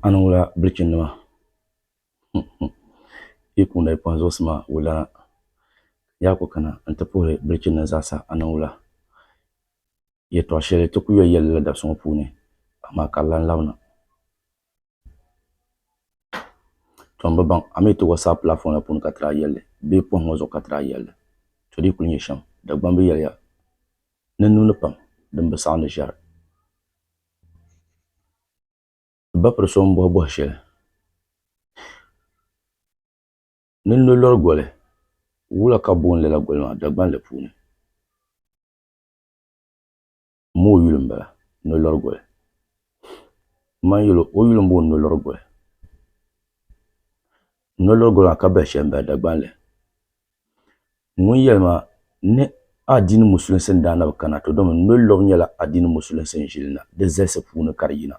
A ni wula bilichini nima yi kuŋda yi pɔhim zuɣusi maa wulana yaa ku kana n-ti puhiri bilichini nima zaasa a ni wula yɛtɔɣ shɛli ti ku yoli yɛli lala dabisi ŋɔ puuni amaa ka di lan labina. To n bi baŋ a mii ti whatsapp platform la puuni ka tiri a yɛlli bee pohim ŋɔ zuɣu ka tiri a yɛlli to dii kuli nyɛ shɛm Dagbamb yɛliya ni n niŋdi pam din bi saɣindi ʒɛri ti ba piri so n bɔhi bɔhi shɛli ni n lo lɔri goli wula ka booni lala goli maa Dagbanli puuni. N ma o yuli m-bala, Nolɔrigoli. M ma yuli o yuli m-bɔŋɔ Nolɔrigoli. Nolɔrigoli maa ka bali shɛli m-bala Dagbanli. Ŋun yɛli ma ni adiini musulinsi n-daa na bi kana to domi Nolɔb nyɛla adiini musulinsi n-ʒili na di zalisi puuni ka di yina.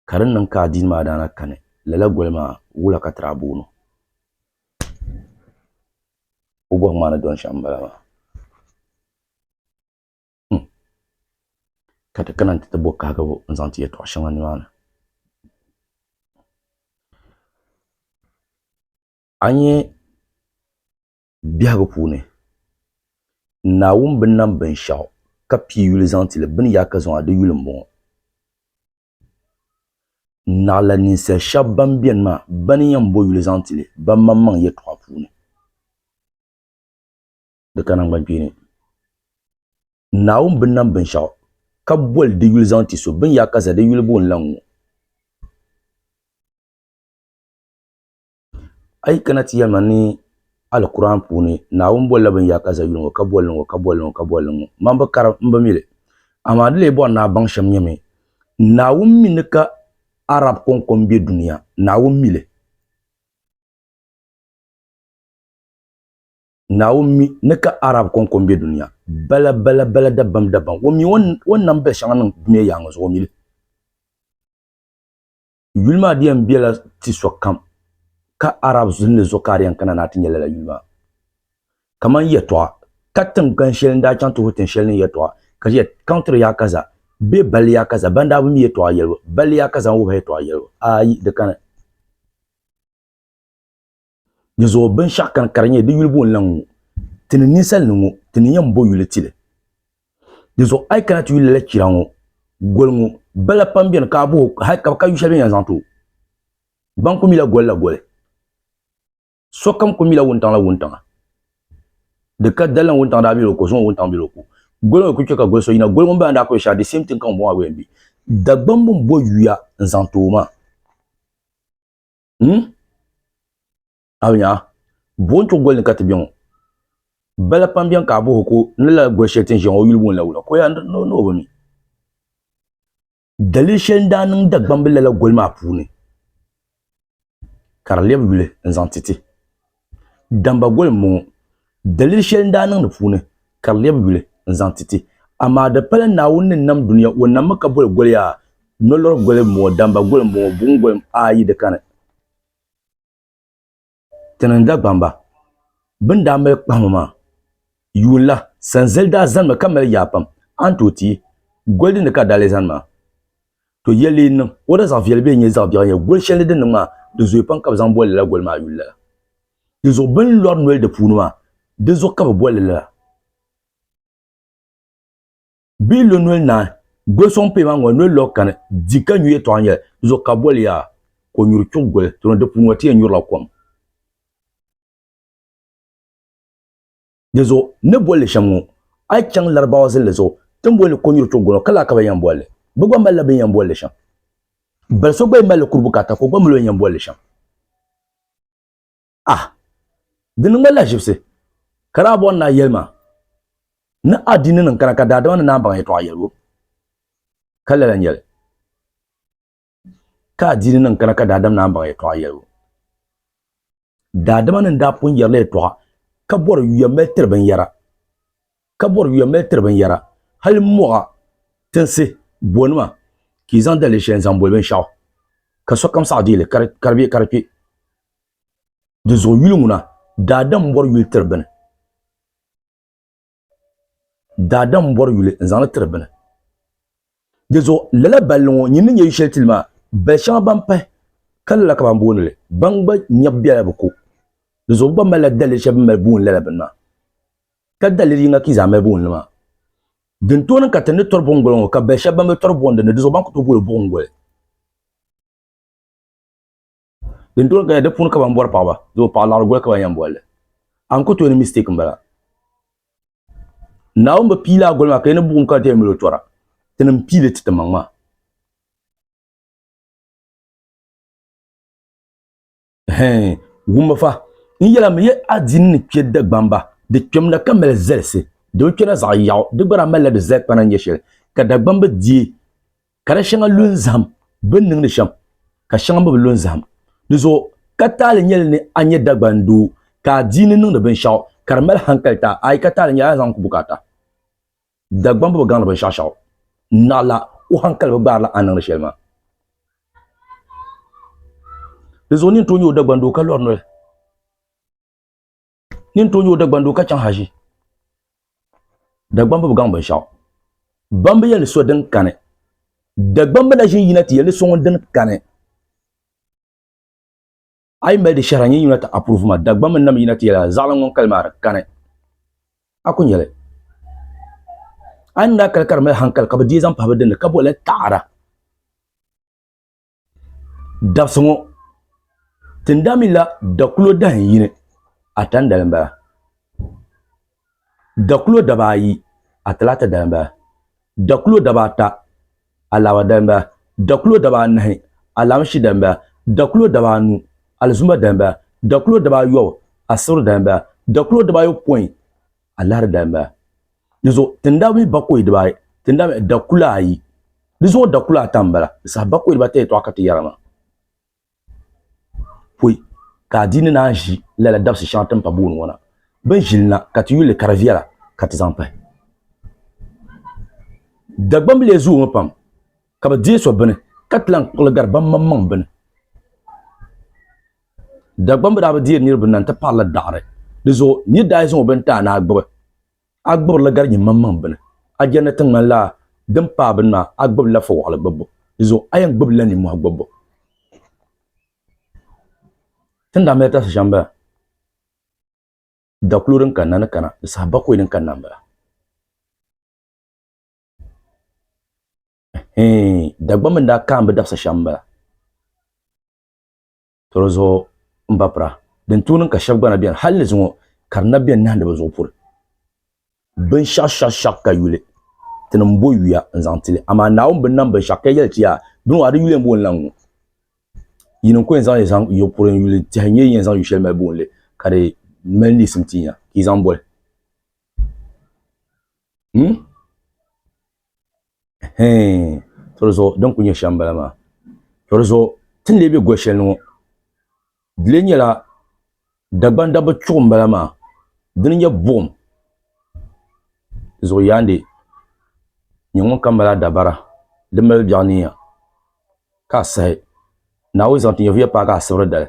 Ka di ni niŋ ka adiini maa daa na kani lala goli maa wula ka ti daa booni o bɔhimma ni dɔni shɛm m-bala maa. Hmm. Ka ti kana nti ti bo kahigibu n-zaŋ ti yɛtɔɣ shɛŋa nimaani. A nya biɛhigu puuni Naawuni bi nam binshɛɣu ka pii yuli zaŋ ti li, bini yaa ka zaŋ a di yuli m-bɔŋɔ. Naɣila ninsal shɛb bɛn beni maa, bɛ ni yɛn bo yuli zaŋ ti li bɛmaŋmaŋ yɛtɔɣa puuni. di ka nangbankpeeni. Naawuni bi nam binshɛɣu ka boli di yuli zaŋ ti so, bini yaa ka za di yuli booni la ŋ-ŋɔ. A yi kana ti yɛlima ni Alkur'aan puuni Naawuni bolila bini yaa ka za yuli ŋɔ ka boli li ŋ-ŋɔ ka boli li ŋ-ŋɔ ka boli li ŋ-ŋɔ. Man bi kari m bi mi li, amaa di lee bɔri ni a baŋ shɛm nyɛmi, Naawuni mi ni ka Arab kɔŋkɔm be dunia, Naawuni mi li. Naawuni mi ni ka Arab kɔŋko m-be dunia bala bala bala dabam dabam. O mi o ni nam biɛshɛŋa niŋ dunia yaaŋa zuɣu o mi li. Yuli maa di yɛn bela ti sokam ka Arab zinli zuɣu ka a di yɛn kana ni a ti nya lala yuli maa. Kaman yɛtɔɣa ka tiŋgbani shɛli n-daa chaŋ ti ho tiŋ shɛli ni yɛtɔɣa ka di yɛli, Country yaa kaza bee Balli yaa kaza ban daa bi mi yɛtɔɣa yɛlibu, Balli yaa kaza n-wuhi a yɛtɔɣa yɛlibu. Aayi! Di kani. Di zuɣu binshaɣu kani ka di nyɛ di yuli bo n-laŋ ŋɔ, ti ni ninsal ni ŋɔ, ti ni yɛn bo yuli ti li. Di zuɣu a yi kana ti yuli lala chira ŋɔ, goli ŋɔ, bala pam beni ka a bohi o hal ka bɛ ka yu shɛli bɛ ni yɛn zaŋ ti o. Baŋ ku mila goli la goli. Sokam ku mila wuntaŋ la wuntaŋa. Di ka dali ni wuntaŋ daa bela o ko, zuŋɔ wuntaŋ bela o ko. Goli ŋɔ yi ku chɛ ka goli so yina, goli ŋun bala ni daa ku yɛn shɛra, the same thing ka ŋun bɔŋɔ maa gba yɛn be. Dagbamb bɛn bo yuya n-zaŋ ti o maa. hmm? a nya buɣim tuɣi goli ni ka ti bɛ ŋɔ bala pam bɛn ka a buhi ko ni la goli shɛli ti ni ʒiya ŋɔ yuli wunla wula ko ya ni o bi mi dalili shɛli n-daa niŋ Dagbambi lala goli maa puuni ka di lɛbi yuli n-zaŋ ti ti Damba goli m-bɔŋɔ. Daliri shɛli n-daa niŋ di puuni ka di lɛbi yuli n-zaŋ ti ti. Amaa di pala Naawuni ni nam dunia, o nammi ka boli goli yaa. Nolɔri goli m-bɔŋɔ, damba goli m-bɔŋɔ, buɣim goli a yi di kani. Ti ni Dagbamba bɛ ni daa mali kpahima maa, yuun la, sanzali daa zanimi ka mali yaa pam, a ni tooi ti yi goli dini ka a daa leei zani maa? To yɛli yi niŋ o da zaɣ viɛli bee nyɛ zaɣ biɛɣu nyɛ goli shɛli ni din niŋ maa, di zooi pam ka bi zaŋ boli lala goli maa yuli lala. Di zuɣu bɛ ni lɔri noli di puuni maa, di zuɣu ka bɛ boli li lala. Bɛ yi lo noli naai, goli sɔŋ pee maa ŋɔ, noli lɔɣu kani, di ka nyu yɛtɔɣa nyɛli, di zuɣu ka bɛ boli yaa, konyuri chuɣu goli, tɔnɔ di puuni ŋɔ ti yɛn nyurila kom. Di zuɣu n ni boli li shɛm ŋɔ, a yi chaŋ Larabawa zilli zuɣu ti ni boli li konyuri tuɣu gɔnɔ ka laa ka bɛ ni yɛn boli li. Bɛ gba malila bɛ ni yɛn boli li shɛm. Bali so gba yi mali li kuri bukaata ka o gba mali o ni yɛn boli li shɛm. Ah! Di niŋ ma lahiʒibisi ka daa bɔri ni a yɛli ma ni adiininim kana ka daadama ni naan baŋ yɛtɔɣa yɛlibu. Ka lala n-nyɛli. Ka adiini nim kana ka daadam naan baŋ yɛtɔɣa yɛlibu. Daadama nim daa pun yɛrila yɛtɔɣa ka bɔri yuya mali tiri binyɛra, ka bɔri yuya mali tiri binyɛra, hali mɔɣa tinsi bonima ka yi zaŋ daliri shɛli n-zaŋ boli binshɛɣu, ka sokam saɣi deei li ka di be ka di kpe. Dinzuɣu yuli ŋuna, daadam bɔri yuli tiri bini. daadam n bɔri yuli n zaŋli tiri bini di zuɣu lala balli ŋɔ nyin ni nyɛ yu shɛli tili maa bali shɛŋa ban pahi ka lala ka ban booni li ban gba nyɛbu biɛla bi ko di zuɣu bi gba malila daliri shɛli bi ni mali booni lala bini maa ka daliri yinga ka yi zaa mali booni li maa din tooi niŋ ka ti ni tɔri buɣim goli ŋɔ ka bali shɛba ban bi tɔri buɣindi ni di zuɣu ban ku tooi booli buɣim goli din tooi gaya di puuni ka ban bɔri paɣaba doo paɣa laɣiri goli ka ban yɛn bolli a ni ku tooi ni mistake n bala naawuni bi piili a goli maa ka yi ni buɣum ka ti mali o tora ti ni piili ti ti maŋ maa wumba fa n yɛla mi yɛ adiini ni kpɛ dagbamba di kpɛmda ka mali zalisi di bi kpɛna zaɣ yaɣu di gba daa malila di zali kpana nyɛ shɛli ka dagbamba diɛ ka di shɛŋa lu n zaham bi ni niŋdi shɛm ka shɛŋa mi bi lu n zaham di zuɣu ka taali nyɛli ni a nyɛ Dagban doo ka a dii ni niŋdi binshaɣu ka di mali hankali ta ayi ka taali nyɛli a ni zaŋ ku bukaata Dagban bi bi gaŋdi binshaɣu shɛŋa naɣila o hankali bi gbaarila a ni niŋdi shɛli maa di zuɣu ni n tooi nyɛ o Dagban doo ka lɔri noli ni n tooi nyɛ o Dagban doo ka chaŋ haʒi. Dagbambu bi gaŋ binshɛɣu. Bambu yɛli so din kani. Dagbambu la ʒin yina ti yɛli so ŋun dini kani. A yi mali di shɛhira n-yi yina ti approve ma, Dagbambu n-nam yina ti yɛli a zaɣili ŋun kali maa di kani. A ku nyɛli. A ni daa kali ka di mali hankali ka bi deei zaŋ pahi bi dini ka boli li taɣada. Dabsi ŋɔ tindamila dakulo dahin yini atandali n bala dakulo dabaa ayi atalata dali n bala dakulo dabaa ata alaaba dali n bala dakulo dabaa anahi alaamishi dali n bala dakulo dabaa anu alizuma dali n bala dakulo dabaa ayobu asiri dali n bala dakulo dabaa ayopɔin Alahiri daa mali di zuɣu tinda mini bakɔi dibaayi, tinda mali dakula ayi, di zuɣu dakula ata m-bala, di saha bakɔi dibata yɛtɔɣa ka ti yɛra maa pɔi ka adiini naan ʒi lala dabisi shɛŋa ti ni pa booni ŋɔ na. Bɛ ni ʒi li na ka ti yuli li ka di viɛla ka ti zaŋ pahi. Dagbamb lee zoomi pam ka bɛ deei so bini ka ti lahi kpuɣi li gari bammaŋmaŋ bini. Dagbamb bi daa bi deeri niriba na nti paɣirila daɣiri. Di zuɣu nir daa yi zaŋ o bini ti a ni a gbibi, a gbibirila gari nyiŋmaŋmaŋ bini. A jɛndi ni ti ŋmanila din paai bini maa, a gbibila fɔwaɣili gbibbu. Di zuɣu a yɛn gbibila nimmɔhi gbibbu. Ti ni daa mali tarisi shɛm m-bala, dakulo din kanna ni kana ni saha bakɔi din kanna m-bala. Ɛhɛɛn, Dagbamb ni daa kaambi dabisa shɛm m-bala. Tɔro zuɣu n ba pira. Din tuuni ka shɛb gba na beni hal ni zuŋɔ ka di na beni nahi ni bɛ zuɣu puri. Binshɛɣu shɛɣu shɛɣu ka yuli ti ni m-bo yuya n-zaŋ ti li, amaa Naawuni bi nam binshɛɣu ka yɛli ti yaa, Bini maa di yuli m-booni la n-ŋu. Yin n-ko n-zaŋ yi zaŋ yo puri n-yuli tɛhi n-nyɛ yin yɛn zaŋ yu shɛli mali booni li ka di mali niɣisim ti nya ka yi zaŋ boli. Him? Hee, toli zuɣu din kuli nyɛ shɛm m-bala maa. Toli zuɣu ti ni lee be goli shɛli ni ŋɔ, di lee nyɛla Dagban dabba chuɣu m-bala maa, di ni nyɛ buɣim zuɣu yaandi nyɛ ŋun kam mali adabara din mali biɛɣu niiya ka a sahi Naawuni zaŋ ti nyɛvuya paagi a sibiri dali.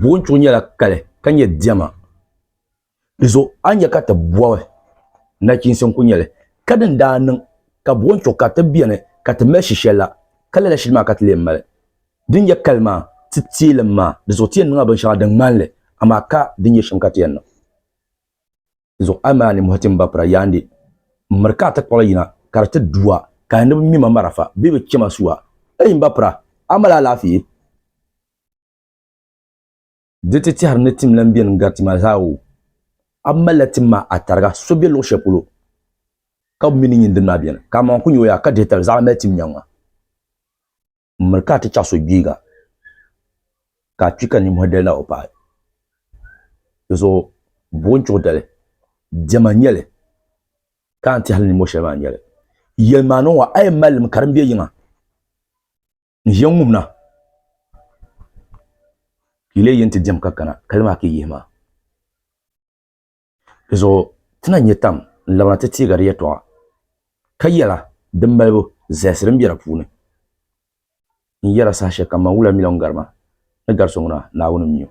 Boontuɣu nyɛla kali ka nyɛ diɛma di zuɣu a ni nyɛ ka ti bɔbi nachiinsi n-kuli nyɛ li ka din daa niŋ ka boontuɣu ka ti beni ka ti mali shishɛl la ka lala shili maa ka ti lee mali din nyɛ kali maa ti teelim maa di zuɣu ti yɛn niŋla binshɛŋa din ŋmani li amaa ka din nyɛ shɛm ka ti yɛn niŋ. zuɣu a maa ni muhi ti mba pira yaandi m miri ka a ti kpuɣili yina ka di ti du a ka a ni bi ŋme ma marafa bee bi che ma su a. Ei mba pira, a mali alaafee? Di ti tɛhiri ni tim lan beni n-gari ti maa zaa o, a malila tim maa a tariga so be luɣ shɛli polo ka bɛ mi ni nyin dini maa beni, ka amaŋ ku nyo ya ka dihi tali zaɣ mali tim nyaŋ ma. N miri ka a ti chaɣ so gbiiga ka a kpi ka nimmɔhi dali na o paai. Di zuɣu buɣi n-chuɣu dali, diɛma n-nyɛ li, ka a ni ti hali nimmɔh shɛli maa n-nyɛ li. Yɛlim a ni ŋɔ, a yɛn mali li mi ka din be yiŋa n-ʒiya n-ŋum na, ka yi leei yi ni ti diɛm ka kana, ka li maa ka yi yihi ma. Di zuɣu ti na nyɛ tam n-labina ti teega di yɛtɔɣa, ka yɛla din malibu zahisi din be di puuni n-yɛra saha shɛlikam man wula miliɔn garima ni gari so ŋuna Naawuni m-mi o.